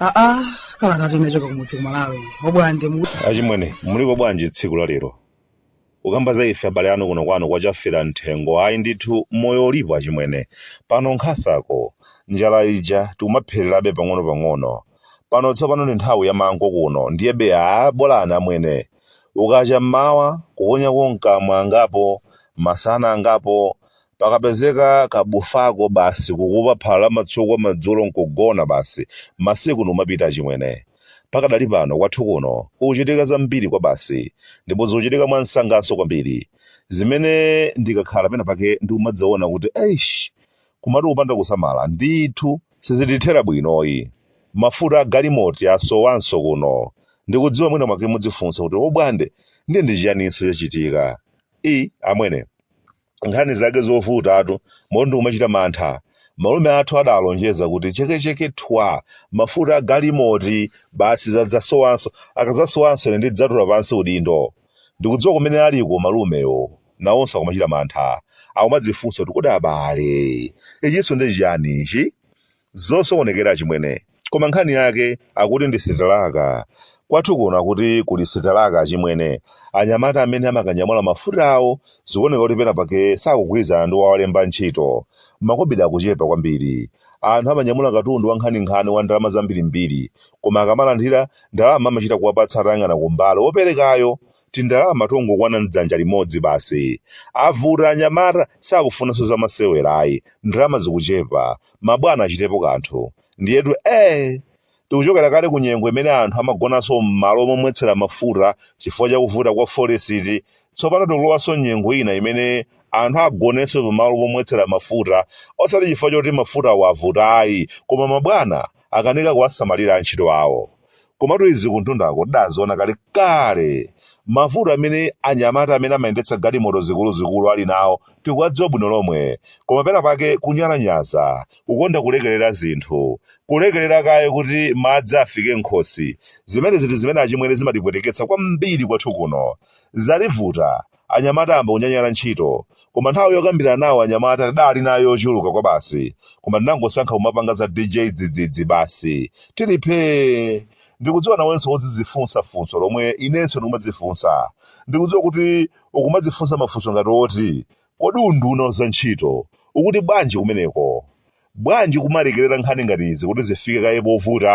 aa kalata tinachoka kumudzi kumalawi obwande achimwene muliko bwanji tsiku la lero ukamba za ife abale anu kuno kwanu kwachafera mthengo ayi ndithu moyo ulipo achimwene pano nkhasako njala ija tikumaphererabe pang'ono-pang'ono pano tsopano ndi nthawi ya mango kuno ndiyebe aa bolani amwene ukacha mmawa kuponyako mkamwa angapo masana angapo pakapezeka kabufako basi kukupa phala la matsukwa madzulo nkugona basi masiku ndikumapita achimwene pakadali pano kwathu kuno kukuchitika zambiri kwabasi ndipo zikuchitika mwansanganso kwambiri zimene ndikakhala pena pake ndikumadziona kuti eish kumati kupanda kusamala ndithu sizitithera bwinoyi mafuta a galimoti asowanso kuno ndikudziwa mwina mwake mudzifunsa kuti obwande ndiye ndi chiyaninso chachitika amwene nkhani zake zovutatu moti ndikumachita mantha malume athu adalonjeza kuti chekecheke thwa mafuta a galimoti basi sadzasowanso akadzasowanso ine ndidzatula pansi udindo ndikudziwa kumene aliko malumewo nawonso akumachita mantha akumadzifunsa kuti kodi abale ichinso ndi chiyani ichi Zosokonekera achimwene. Koma nkhani yake akuti ndi sitalaka. Kwathu kuno akuti kuli sitalaka achimwene. Anyamata amene amakanyamula mafuta awo zikuoneka kuti penapake sakugwirizana ndi wowalemba ntchito. Makobidi akuchepa kwambiri. Anthu amanyamula katundu wankhaninkhani wa ndalama zambirimbiri, koma akamalandira, ndalama amachita kuwapatsa atayang'ana kumbali woperekayo tindalama tongokwana mdzanja limodzi basi. Avuta anyamata sakufunanso za masewera ayi. Ndalama zikuchepa. Mabwana achitepo kanthu. Ndiyetu ee! Tikuchokera kale ku nyengo imene anthu amagonanso m'malo momwetsera mafuta chifukwa cha kuvuta kwa folesiti. Tsopano tikulowanso nyengo ina imene anthu agonenso pamalo pomwetsera mafuta osati chifukwa choti mafutawo avuta ayi, koma mabwana akanika kuwasamalira antchito awo. komatu izi kuntundako tidaziona kale kale mavuto amene anyamata amene amayendetsa galimoto zikuluzikulu ali nawo tikuwadziwa bwino lomwe koma pena pake kunyalanyaza kukonda kulekerera zinthu kulekerera kaye kuti madzi afike m'khosi zimenezitu zimene achimwene zimatipweteketsa kwambiri kwathu kuno zativuta Anyamata ayamba kunyanyala ntchito. Koma nthawi yokambirana nawo anyamata tidali nayo yochuluka kwabasi. Koma tinangosankha kumapanga za DJ Dzidzidzi basi. Tili phee! Ndikudziwa nawenso udzidzifunsa funso lomwe inenso ndikumadzifunsa. Ndikudziwa kuti ukumadzifunsa mafunso ngati oti, Kodi unduna wa zantchito ukuti bwanji kumeneko? Bwanji kumalekerera nkhani ngati izi kuti zifike kaye povuta?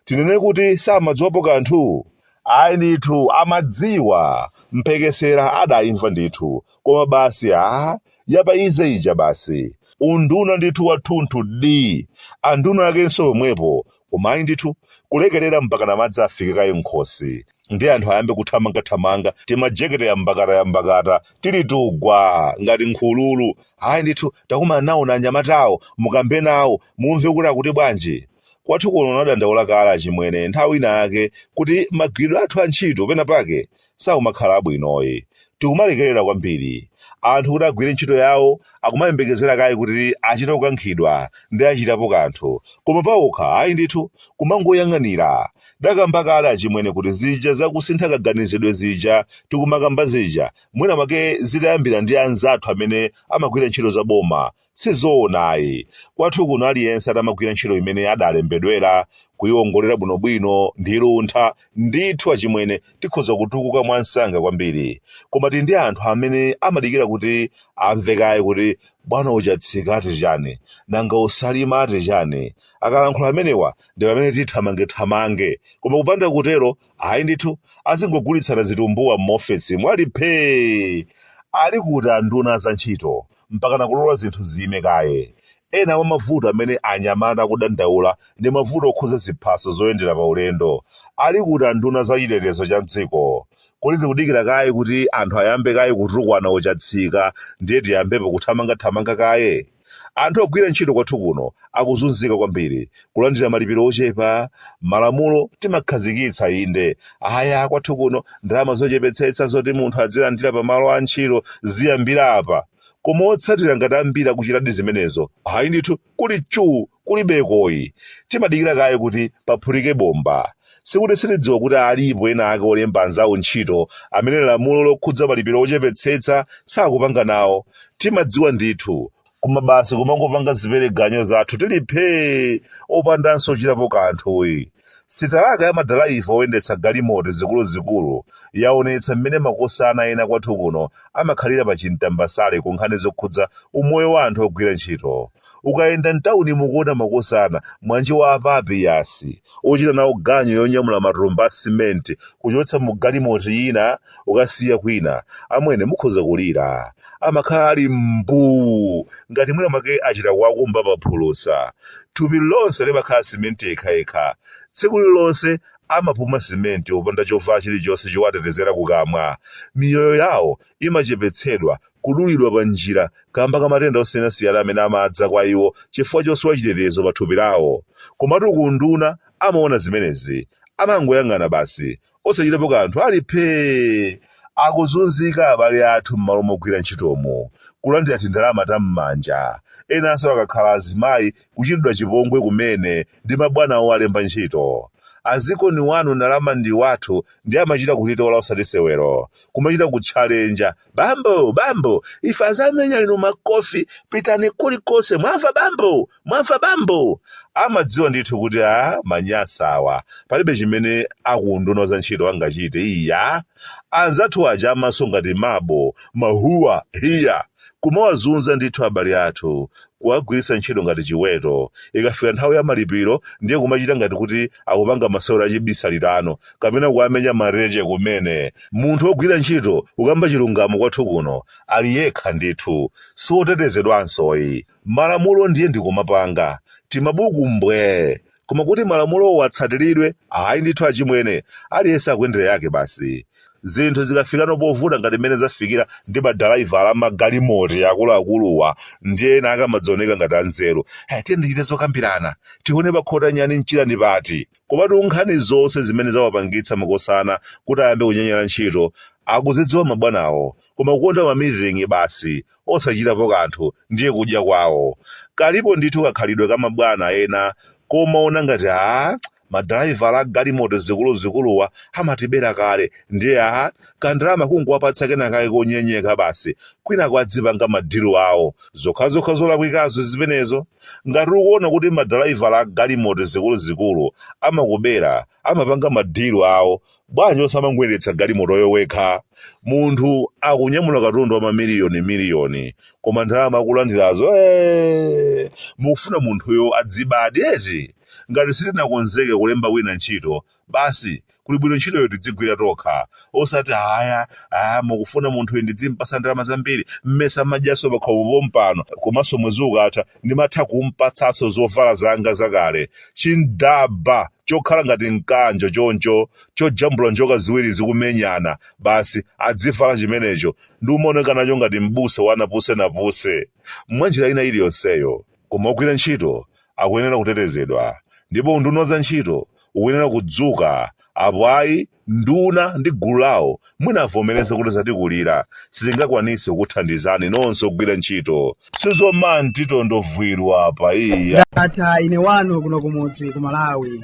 Tinene kuti samadziwapo kanthu? Ayi ndithu amadziwa, mphekesera adaimva ndithu, koma basi a ya pa easy ija basi. Unduna ndithu wathunthudi! Anduna akenso pomwepo, koma ayi ndithu kulekerera mpakana madzi afike kaye m'khosi ndi anthu ayambe kuthamangathamanga timajekete yambakata yambakata tili tugwa ngati nkhululu ayi ndithu takumana nawoni anyamatawo mukambe nawo mumve kuti akuti bwanji kwathu kuno nadandaula kale achimwene nthawi ina yake kuti magwiridwe athu a ntchito pena pake sakumakhala abwinoyi. Tikumalekerera kwambiri anthu kuti agwire ntchito yawo akumayembekezera kaye kuti achite kukankhidwa ndi achitapo kanthu koma paokha ayi ndithu kumangoyang'anira. Ndakamba kale achimwene kuti zija za kusintha kaganizidwe zija tikumakamba zija mwina mwake zitayambira ndi anzathu amene amagwira ntchito za boma Sizoona ayi. Kwathu kuno aliyense atamagwira ntchito imene adalembedwera, kuyiwongolera bwinobwino, ndi luntha, ndithu achimwene tikhoza kutukuka mwansanga kwambiri. Koma tili ndi anthu amene amadikira kuti amve kaye kuti bwana o Chatsika ati chani, nanga o Salima ati chani. Akalankhula amenewa ndi pamene tithamangethamange. Koma kupanda kutero, ayi ndithu, azingogulitsana zitumbuwa m'maofesimu ali phee! Ali kuti anduna a zantchito? mpakana kulola zinthu ziime kaye. Ena mwa mavuto amene anyamata akudandaula ndi mavuto okhudza ziphaso zoyendera paulendo. Ali kuti anduna za chitetezo cha m'dziko? Kodi tikudikira kaye kuti anthu ayambe kaye kutukwana o Chatsika ndiye tiyambepo kuthamangathamanga kaye? Anthu ogwira ntchito kwathu kuno akuzunzika kwambiri kulandira malipiro ochepa malamulo timakhazikitsa inde aya kwathu kuno ndalama zochepetsetsa zoti munthu azilandira pa malo a ntchito ziyambira apa koma otsatira ngati ambiri akuchitadi zimenezo ayi ndithu kuli chuu kulibekoyi timadikira kaye kuti paphulike bomba sikuti sitidziwa kuti alipo ena ake olemba anzawo ntchito amene lamulo lokhudza malipiro ochepetsetsa sakupanga nawo timadziwa ndithu koma basi kumangopanga zipereganyo zathu tili phee opandanso kuchitapo kanthuyi sitalaka ya madalaiva oyendetsa galimoto zikuluzikulu yaonetsa mmene makosana ena kwathu kuno amakhalira pa chintambasale ku nkhani zokhudza umoyo wa anthu ogwira ntchito ukayenda mtawuni mukuona makosana mwanjiwa a Papiyasi ochita nawo ganyo yonyamula matumba a simenti kuchotsa mu galimoti ina ukasiya kwina amwene mukhoza kulira amakhala ali mbuu ngati mwina make achita kuwakumba paphulusa thupi lonse limakhala simenti yekhayekha tsiku lilonse amapuma simenti popanda chovala chilichonse chowatetezera kukamwa miyoyo yawo imachepetsedwa kudulidwa pa njira kamba ka matenda osiyanasiyana amene amadza kwa iwo chifukwa chosowa chitetezo pa thupi lawo komatu ku unduna amaona zimenezi amangoyang'ana basi osachitapo kanthu ali phee akuzunzika abale athu m'malo mogwira ntchitomo kulandira tindalama ta m'manja enanso akakhala azimayi kuchitidwa chipongwe kumene ndi mabwana awo alemba ntchito azikoni wanu ndalama ndi wathu ndi amachita kutitola osati sewero kumachita kutchalenja bambo bambo ife azamenya inu makofi pitani kulikonse mwamva bambo mwamva bambo amadziwa ndithu kuti amanyasa awa palibe chimene akunduna za ntchito angachite iya anzathu aja amaso ngati mabo mahuwa hiya kumawazunza ndithu abale athu kuwagwiritsa ntchito ngati chiweto ikafika nthawi ya malipiro ndiye kumachita ngati kuti akupanga masewero achibisalirano kapena kuwamenya mareje kumene munthu wogwira ntchito ukamba chilungamo kwathu kuno ali yekha ndithu sotetezedwansoyi malamulo ndiye ndikumapanga timabuku mbwee koma kuti malamulowo atsatiridwe ayi ndithu achimwene aliyense akuyendera yake basi zinthu zikafikano povuta ngati mmene zafikira ndi madalaivala amagalimoto akuluakuluwa ndiye ena akamadzioneka ngati anzeru tiyeni tichite zokambirana tione pakhota nyani mchira ndi pati Komatu nkhani zonse zimene zawapangitsa makosana kuti ayambe kunyanyala ntchito akuzidziwa mabwanawo koma kukonda ma meeting basi osachitapo kanthu ndiye kudya kwawo. Kalipo ndithu kakhalidwe ka mabwana ena komawona ngati aah madalaivala a galimoto zikuluzikuluwa amatibera kale ndiye aah kandalama kungowapatsa kenakake konyenyeka basi kwinako adzipanga ma deal awo. Zokhazokha zolakwikazo zimenezo. Ngati ukuona kuti madalaivala a galimoto zikuluzikulu amakubera, amapanga ma deal awo, bwanji osamangoyendetsa galimotoyo wekha? Munthu akunyamula katundu wa ma miliyoni miliyoni koma ndalama akulandirazo eeh! Mukufuna munthuyo adzibabe eti? Ngati sitinakonzeke kulemba wina ntchito, basi kuli bwino ntchitoyo tidzigwira tokha osati haya ah, mukufuna munthuyu ndidzimpatsa ndalama zambiri mmesa amadyaso pakhomo pompano komanso mwezi ukatha ndimatha kumpatsaso zovala zanga zakale chindaba chokhala ngati mkanjo choncho chojambula njoka ziwiri zikumenyana basi adzivala chimenecho nkumaoneka nacho ngati m'busa wa napuse napuse mwa njira ina iliyonseyo koma ogwira ntchito akuyenera kutetezedwa ndipo unduna wa zantchito ukuyenera kudzuka apo ayi nduna ndi gulu lawo mwina avomereze kuti zatikulira sitingakwanitse kukuthandizani nonse ogwira ntchito sizomanti tondovwira apa iya. Ndatha ine wanu kuno kumudzi ku Malawi.